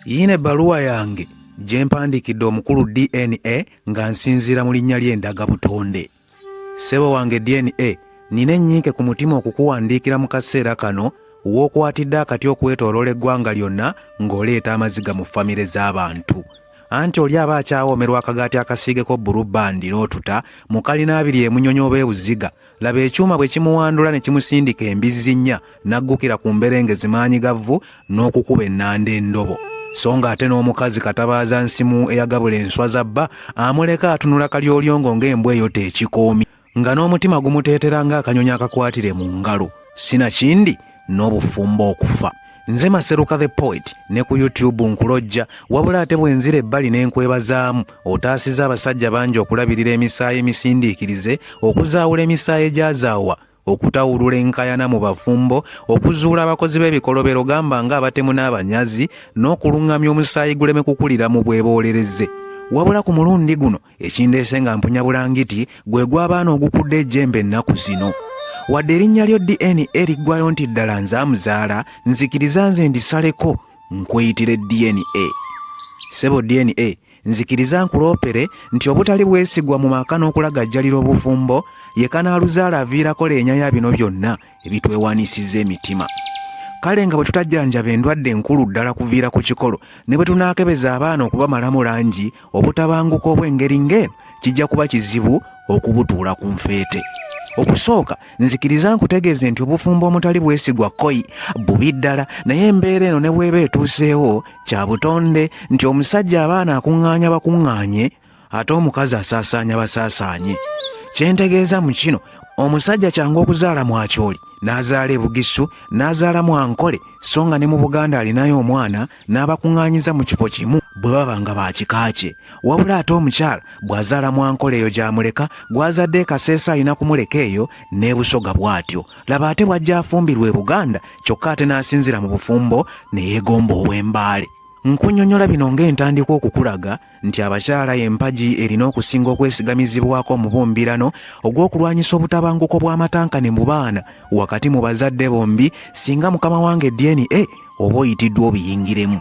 yiina ebbaluwa yange gye mpandiikidde omukulu dna nga nsinziira mu linnya ly'endaga butonde ssebo wange dna nina ennyinke ku mutima okukuwandiikira mu kaseera kano w'okwatidde akati okwetoloola eggwanga lyonna ng'oleeta amaziga mu famire z'abantu anti oli aba akyawoomerwa akagaati akasiigeko bbulubbandi n'otuta mu kalina abiri emunyonyi oba ebuziga laba ekyuma bwe kimuwandula ne kimusindika embizzi nnya n'aggukira ku mberenge zimaanyi ga vvu n'okukuba ennanda endobo so ng'ate n'omukazi katabaaza nsimu eyagabula enswa za bba amuleka atunula kalyolyongo ng'embwa eyo teekikoomi nga n'omutima gumuteetera ng'akanyonyi akakwatire mu ngalo sinakindi n'obufumbo okufa nze maseruka the poet ne ku youtube nkulojja wabula ate bwenzira ebbali n'enkwebazaamu otaasiza abasajja bangi okulabirira emisaayi emisindiikirize okuzaawula emisaayi egyazaawa okutawulula enkayana mu bafumbo okuzuula abakozi b'ebikolobero gamba nga abatemu n'abanyazi n'okuluŋŋamya omusaayi guleme kukulira mu bweboolereze wabula ku mulundi guno ekindeese nga mpunya bulangiti gwe gw'abaana ogukudde ejjembe ennaku zino wadde erinnya lyo dna liggwayo nti ddala nze amuzaala nzikiriza nze ndisaleko nkweyitire dna sebo dna nzikiriza nkuloopere nti obutali bwesigwa mu maka n'okulagajjalira obufumbo ye kanaaluzaala aviirako leenya ya bino byonna ebitwewanisizza emitima kale nga bwe tutajjanjaba endwadde enkulu ddala kuviira ku kikolo ne bwe tunaakebeza abaana okubamalamu langi obutabanguka obw'engeri ng'eno kijja kuba kizibu okubutuula ku nfeete okusooka nzikiriza nkutegeeze nti obufumbo omutali bwesigwa koi bubi ddala naye embeera eno ne bw'eba etuuseewo kya butonde nti omusajja abaana akuŋŋaanya bakuŋŋaanye ate omukazi asaasaanya basaasaanye kye ntegeeza mu kino omusajja kyangu okuzaala mwakyoli n'azaala ebugisu n'azaala mwankole so nga ne mu buganda alinayo omwana n'abakuŋŋaanyiza mu kifo kimu bwe baba nga baakika kye wabula ate omukyala bw'azaala mwankole eyo gy'amuleka gw'azadde ekaseesa alina kumuleka eyo n'ebusoga bw'atyo laba ate bw'ajja afumbirwa e buganda kyokka ate n'asinzira mu bufumbo ne yeegomba ow'embaale nkunyonyola bino ng'entandikwa okukulaga nti abakyala empagi erina okusinga okwesigamizibwako mu bumbirano ogw'okulwanyisa obutabanguko bw'amatankane mu baana wakati mu bazadde bombi singa mukama wange dna oba oyitiddwa obiyingiremu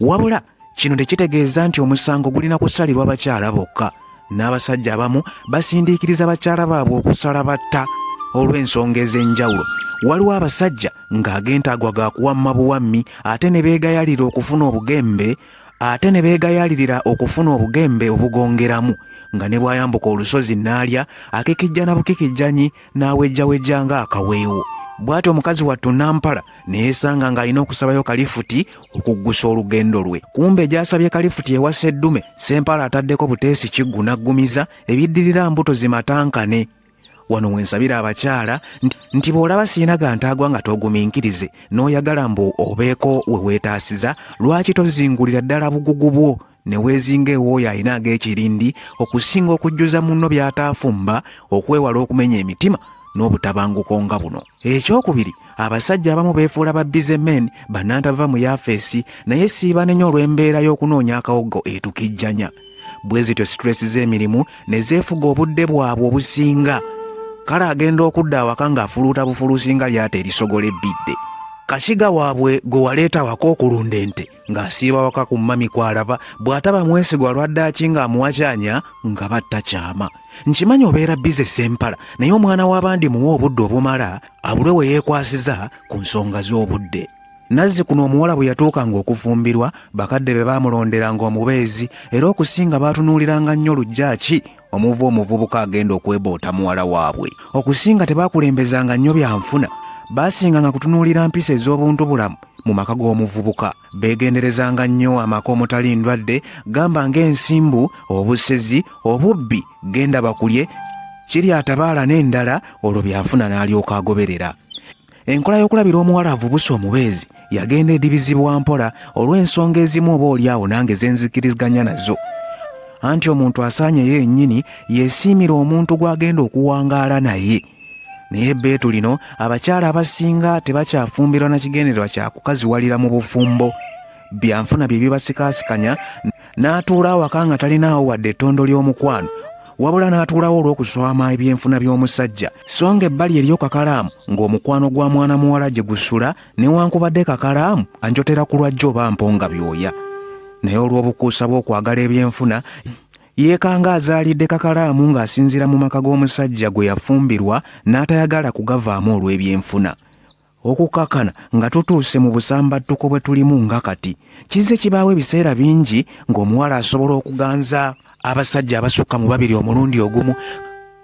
wabula kino tekitegeeza nti omusango gulina kusalirwa bakyala bokka n'abasajja abamu basindiikiriza bakyala baabwe okusala batta olw'ensonga ez'enjawulo waliwo abasajja ng'agentaagwa ga kuwamma buwammi ate ne beegayalira okufuna obugembe ate ne beegayaalirira okufuna obugembe obugongeramu nga ne bw'ayambuka olusozi n'alya akekijja na bukekijjanyi n'awejjawejja ng'akaweewo bw'atyo omukazi wattu nampala ne yeesanga ng'alina okusabayo kalifuti okuggusa olugendo lwe kumbe gy'asabye kalifuti ewa sseddume sempala ataddeko buteesi kiggu n'aggumiza ebiddirira mbuto zimatankane wano wensabira abakyala nti bw'olaba sirina gantaagwa nga toguminkirize n'oyagala mbu obeeko we weetaasiza lwaki tozingulira ddala bugugu bwo ne weezinga ewooyo alina ag'ekirindi okusinga okujjuza munno by'ataafumba okwewala okumenya emitima n'obutabanguko nga buno ekyokubiri abasajja abamu beefuula ba bize men bannantava mu yafeesi naye siibanenya olw'embeera y'okunoonya akawoggo etukijjanya bwe zityo situleesi z'emirimu ne zeefuga obudde bwabwe obusinga kale agenda okudda awaka ng'afuluuta bufuluusi nga lyata erisogola ebbidde kasiga waabwe gwe waleeta waka okulunda ente ng'asiiba waka ku mmami kw'alaba bw'ataba mwesigwa lwaddaaki ng'amuwakyanya nga batta kyama nkimanyi obeera bize sempala naye omwana w'abandi muwa obudde obumala abulwe we yeekwasiza ku nsonga z'obudde nazzi kuno omuwala bwe yatuukanga okufumbirwa bakadde be baamulonderanga omubeezi era okusinga baatunuuliranga nnyo lujjaaki omuva omuvubuka agenda okweboota muwala waabwe okusinga tebakulembezanga nnyo byanfuna baasinganga kutunuulira mpisa ez'obuntu bulamu mu maka g'omuvubuka beegenderezanga nnyo amaka omutali ndwadde gamba ng'ensimbu obusezi obubbi genda bakulye kiri atabaala n'endala olwo byanfuna n'alyoka agoberera enkola y'okulabira omuwala avubuse omubeezi yagenda edibizibwa mpola olw'ensonga ezimu oba olyawo nange zenzikiriziganya nazo anti omuntu asaanye ye yennyini yesiimira omuntu gw'agenda okuwangaala naye naye ebbeetu lino abakyala abasinga tebakyafumbirwa na kigendererwa kya kukaziwalira mu bufumbo byanfuna bye bibasikaasikanya n'atuula awaka nga talinaawo wadde ettondo ly'omukwano wabula n'atuulawo olw'okuswama ebyenfuna by'omusajja so nga ebbali eriyo kakalaamu ng'omukwano gwa mwana muwala gye gusula newankubadde kakalaamu anjotera ku lwajja oba mponga byoya naye olw'obukuusa bw'okwagala ebyenfuna yeekanga azaalidde kakalaamu ng'asinziira mu maka g'omusajja gwe yafumbirwa n'atayagala kugavaamu olw'ebyenfuna okukakana nga tutuuse mu busambattuko bwe tulimu nga kati kizze kibaawo ebiseera bingi ng'omuwala asobola okuganza abasajja abasukka mu babiri omulundi ogumu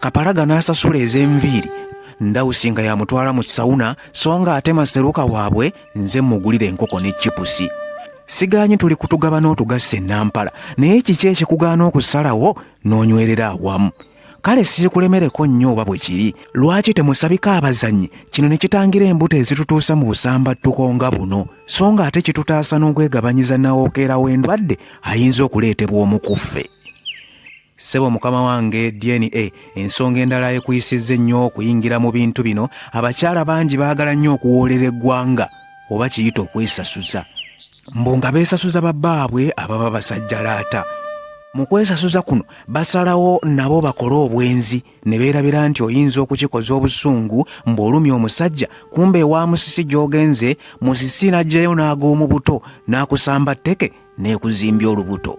kapalaga n'asasula ez'enviiri ndawusi nga yamutwala mu kisawuna so nga ate maseruka waabwe nze mmugulira enkoko ne cipusi sigaanyi tuli kutugaba n'otugassa enampala naye kiki ekikugaana okusalawo n'onywerera awamu kale siikulemereko nnyo oba bwe kiri lwaki temusabika abazannyi kino ne kitangira embuto ezitutuusa mu busambattuko nga buno so nga ate kitutaasa n'okwegabanyiza nawokeera w'endwadde ayinza okuleetebwa omukuffe sebo mukama wange dna ensonga endala ekuyisizza ennyo okuyingira mu bintu bino abakyala bangi baagala nnyo okuwoolera eggwanga oba kiyita okwesasuza mbu nga beesasuza babbaabwe ababa basajjalaata mu kwesasuza kuno basalawo nabo bakole obwenzi ne beerabira nti oyinza okukikoza obusungu mbw'olumya omusajja kumba ewa musisi gy'ogenze musisi n'aggyayo n'ag'omu buto n'akusamba tteke n'ekuzimbya olubuto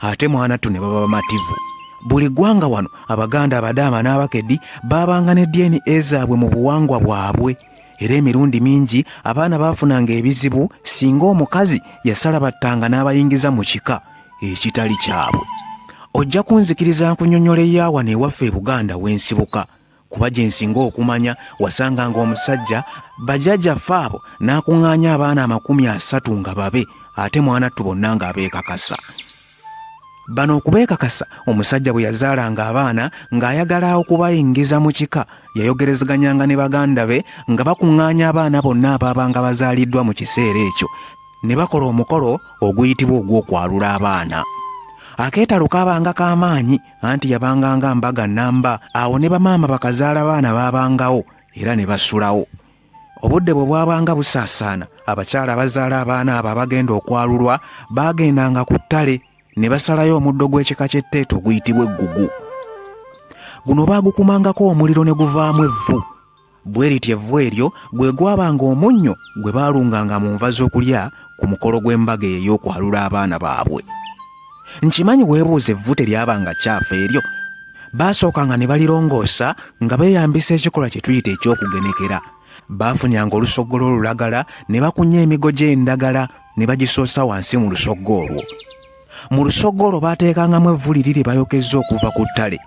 ate mwanattu ne baba bamativu buli ggwanga wano abaganda abadaama n'abakedi baabanga ne dna zaabwe mu buwangwa bwabwe era emirundi mingi abaana baafunanga ebizibu singa omukazi yasala battanga n'abayingiza mu kika ekitali kyabwe ojja kunzikiriza nkunyonyola eyaawa neewaffe e buganda w'ensibuka kuba gye nsinga okumanya wasanga ng'omusajja bajaja faabo n'akuŋŋaanya abaana amakumi asatu nga babe ate mwanattu bonna ng'abeekakasa bano okubeekakasa omusajja bwe yazaalanga abaana ng'ayagala okubayingiza mu kika yayogerezeganyanga ne baganda be nga bakuŋŋaanya abaana bonna abaabanga bazaaliddwa mu kiseera ekyo ne bakola omukolo oguyitibwa ogw'okwalula abaana akeetalo kaabanga k'amaanyi anti yabanga nga mbaga nnamba awo ne bamaama bakazaala baana baabangawo era ne basulawo obudde bwe bwabanga busaasaana abakyala abazaala abaana abo abagenda okwalulwa baagendanga ku ttale ne basalayo omuddo gw'ekika ky'etteeto oguyitibwa eggugu guno baagukumangako omuliro ne guvaamu evvu bwe lityo evvu eryo gwe gwabanga omunnyo gwe baalunganga mu nva z'okulya ku mukolo gw'embaga eyo ey'okwalula abaana baabwe nkimanyi weebuuza evvu teryabanga kyafu eryo baasookanga ne balirongoosa nga beeyambisa ekikolwa kye tuyita eky'okugenekera baafunyanga olusoggolo olulagala ne bakunya emigo gy'endagala ne bagisoosa wansi mu lusoggo olwo mu lusoggo olwo baateekangamu evvu liri lye bayokezza okuva ku ttale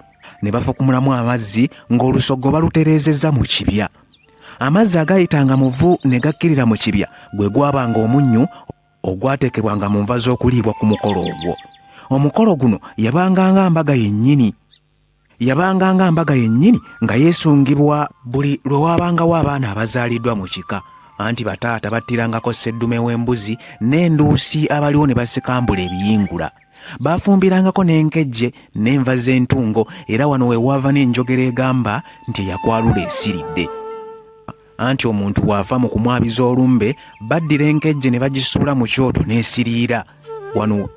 ne bafukumulamu amazzi ng'olusoggo balutereezezza mu kibya amazzi agayitanga mu vvu ne gakkirira mu kibya gwe gwabanga omunnyu ogwateekebwanga mu nva z'okuliibwa ku mukolo ogwo omukolo guno yabanga nga mbaga yennyini yabanga nga mbaga yennyini nga yeesungibwa buli lwe waabangawo abaana abazaaliddwa mu kika anti bataata battirangako sseddume w'embuzi n'enduusi abaliwo ne basikambula ebiyingula baafumbirangako n'enkejje n'enva z'entungo era wano we waava n'enjogera egamba nti eyakwalula esiridde anti omuntu bw'ava mu kumwabiza olumbe baddira enkejje ne bagisuula mu kyoto n'esiriira wano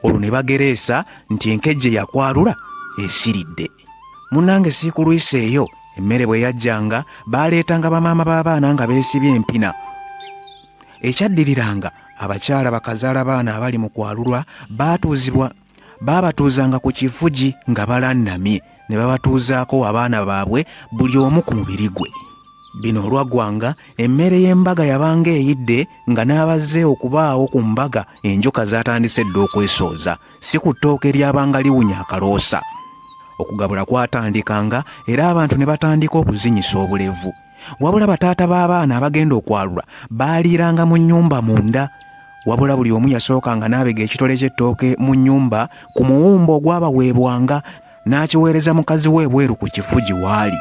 olwo ne bagereesa nti enkejje yakwalula esiridde munange siikulwisa eyo emmere bwe yajjanga baaleetanga bamaama b'abaana nga beesibye empina ekyaddiriranga abakyala bakazaala baana abali mu kwalulwa baatuuzibwa baabatuuzanga ku kifugi nga balannamye ne babatuuzaako abaana baabwe buli omu ku mubiri gwe bino olwaggwanga emmere y'embaga yabanga eyidde nga n'abazze okubaawo ku mbaga enjoka zaatandise dda okwesooza si ku ttooke eryabanga liwunya akaloosa okugabula kwatandikanga era abantu ne batandika okuzinyisa obulevu wabula bataata b'abaana abagenda okwalula baaliiranga mu nnyumba munda wabula buli omu yasookanga n'abega ekitole ky'ettooke mu nnyumba ku muwumba ogwabaweebwanga n'akiweereza mukazi we ebweru ku kifu gye waali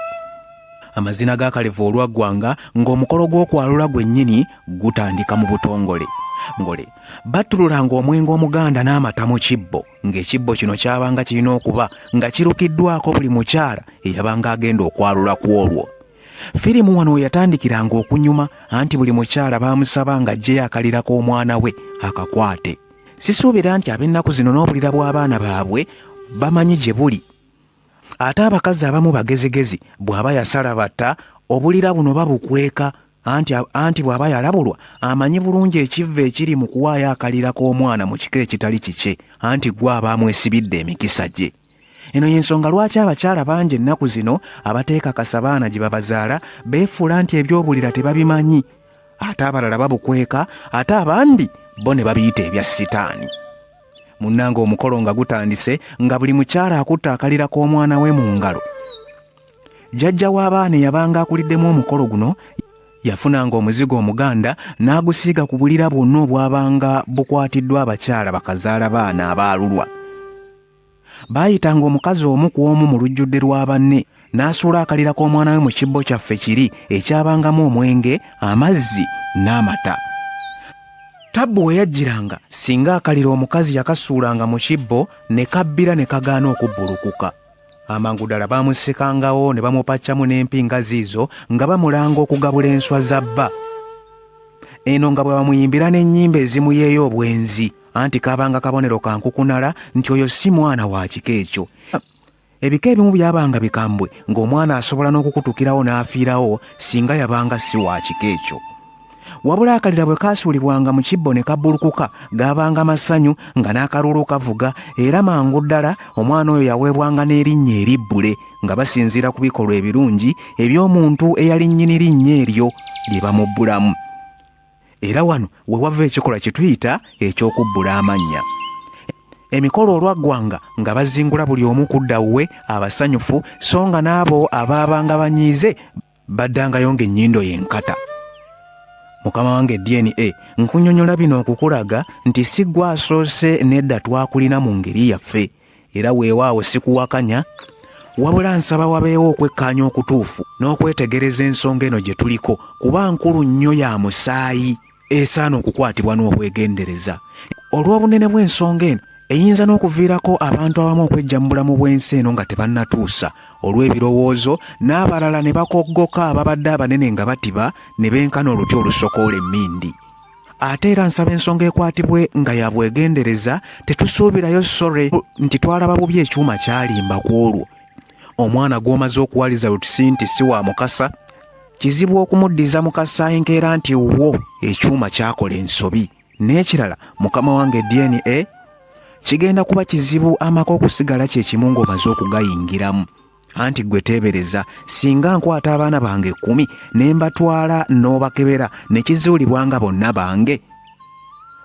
amazina ga kalevu olwaggwanga ng'omukolo gw'okwalula gwennyini gutandika mu butongole ngole battululanga omwenge omuganda n'amata mu kibbo ng'ekibbo kino kyabanga kirina okuba nga kirukiddwako buli mukyala eyabanga agenda okwalula ku olwo firimu wano we yatandikiranga okunyuma anti buli mukyala baamusaba ng'aggyeyo akalirako omwana we akakwate sisuubira nti ab'ennaku zino n'obulira bw'abaana baabwe bamanyi gye buli ate abakazi abamu bagezigezi bw'aba yasala batta obulira buno babukweka anti bw'aba yalabulwa amanyi bulungi ekivva ekiri mu kuwaayo akalira k'omwana mu kika ekitali kikye anti gwe aba amwesibidde emikisa gye eno y'ensonga lwaki abakyala bangi ennaku zino abateekakasa baana gye babazaala beefuula nti ebyobulira tebabimanyi ate abalala babukweka ate abandi bo ne babiyita ebya sitaani munnanga omukolo nga gutandise nga buli mukyala akutte akalira k'omwana we mu ngalo jjajja w'abaana eyabanga akuliddemu omukolo guno yafunanga omuzigo omuganda n'agusiiga ku bulira bwonna obwabanga bukwatiddwa abakyala bakazaala baana abaalulwa baayitanga omukazi omu ku omu mu lujjudde lwa banne n'asuula akalira k'omwana we mu kibbo kyaffe kiri ekyabangamu omwenge amazzi n'amata tabbu we yajjiranga singa akalira omukazi yakasuulanga mu kibbo ne kabbira ne kagaana okubbulukuka amangu ddala baamusikangawo ne bamupaccamu n'empinga ziizo nga bamulanga okugabula enswa za bba eno nga bwe bamuyimbira n'ennyimba ezimuyeeyo obwenzi anti kabanga kabonero ka nkukunala nti oyo si mwana wa kika ekyo ebika ebimu byabanga bikambwe ng'omwana asobola n'okukutukirawo n'afiirawo singa yabanga si wa kika ekyo wabula akalira bwe kaasuulibwanga mu kibbo ne kabbulukuka gaabanga masanyu nga n'akaluulu kavuga era mangu ddala omwana oyo yaweebwanga n'erinnya eribbule nga basinziira ku bikolwa ebirungi eby'omuntu eyali nnyini linnya eryo lye bamubbulamu era wano we wava ekikolwa kye tuyita eky'okubbula amannya emikolo olwaggwanga nga bazingula buli omu kudda wuwe abasanyufu so nga n'abo abaabanga banyiize baddangayo ng'ennyindo y'enkata mukama wange dna nkunyonyola bino okukulaga nti si gwe asoose nedda twakulina mu ngeri yaffe era weewaawo sikuwakanya wabula nsaba wabeewo okwekkaanya okutuufu n'okwetegereza ensonga eno gye tuliko kuba nkulu nnyo ya musaayi esaana okukwatibwa n'obwegendereza olw'obunene bw'ensonga eno eyinza n'okuviirako abantu abamu okwejja mu bulamu bw'ensi eno nga tebannatuusa olw'ebirowoozo n'abalala ne bakoggoka ababadde abanene nga batiba ne benkana oluti olusokoola emmindi ate era nsaba ensonga ekwatibwe nga ya bwegendereza tetusuubirayo sore nti twalaba bubi ekyuma kyalimba ku olwo omwana gw'omaze okuwaliza lutusi nti si wa mukasa kizibu okumuddiza mukasa enkeera nti wo ekyuma kyakola ensobi n'ekirala mukama wange dna kigenda kuba kizibu amaka okusigala kye kimu ng'omaze okugayingiramu anti gwe teebereza singa nkwata abaana bange ekkumi ne mbatwala n'obakebera ne kizuulibwa nga bonna bange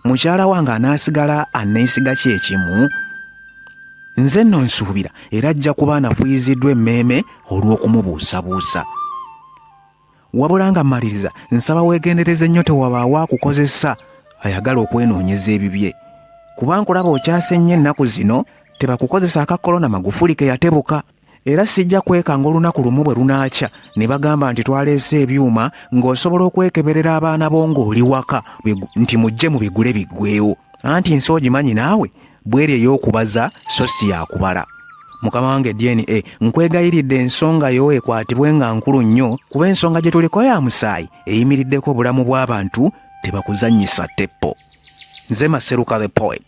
mukyala wange anaasigala aneesiga kye ekimu nze nno nsuubira era ajja kuba anafuyiziddwa emmeeme olw'okumubuusabuusa wabula nga mmaliriza nsaba weegendereze nnyo tewabaawo akukozesa ayagala okwenoonyeza ebibye kuba nkulaba okyase nnyo ennaku zino tebakukozesa aka kolona magufuli ke yatebuka era sijja kwekanga olunaku lumu bwe lunaakya ne bagamba nti twaleese ebyuma ng'osobola okwekeberera abaana bo ng'oli waka nti mujje mu bigule biggweewo anti nsi ogimanyi naawe bweri ey'okubaza so si yakubala mukama wange dna nkwegayiridde ensonga yo ekwatibwe nga nkulu nnyo kuba ensonga gye tuliko ya musaayi eyimiriddeko obulamu bw'abantu tebakuzannyisa teppo nze maseruka the poet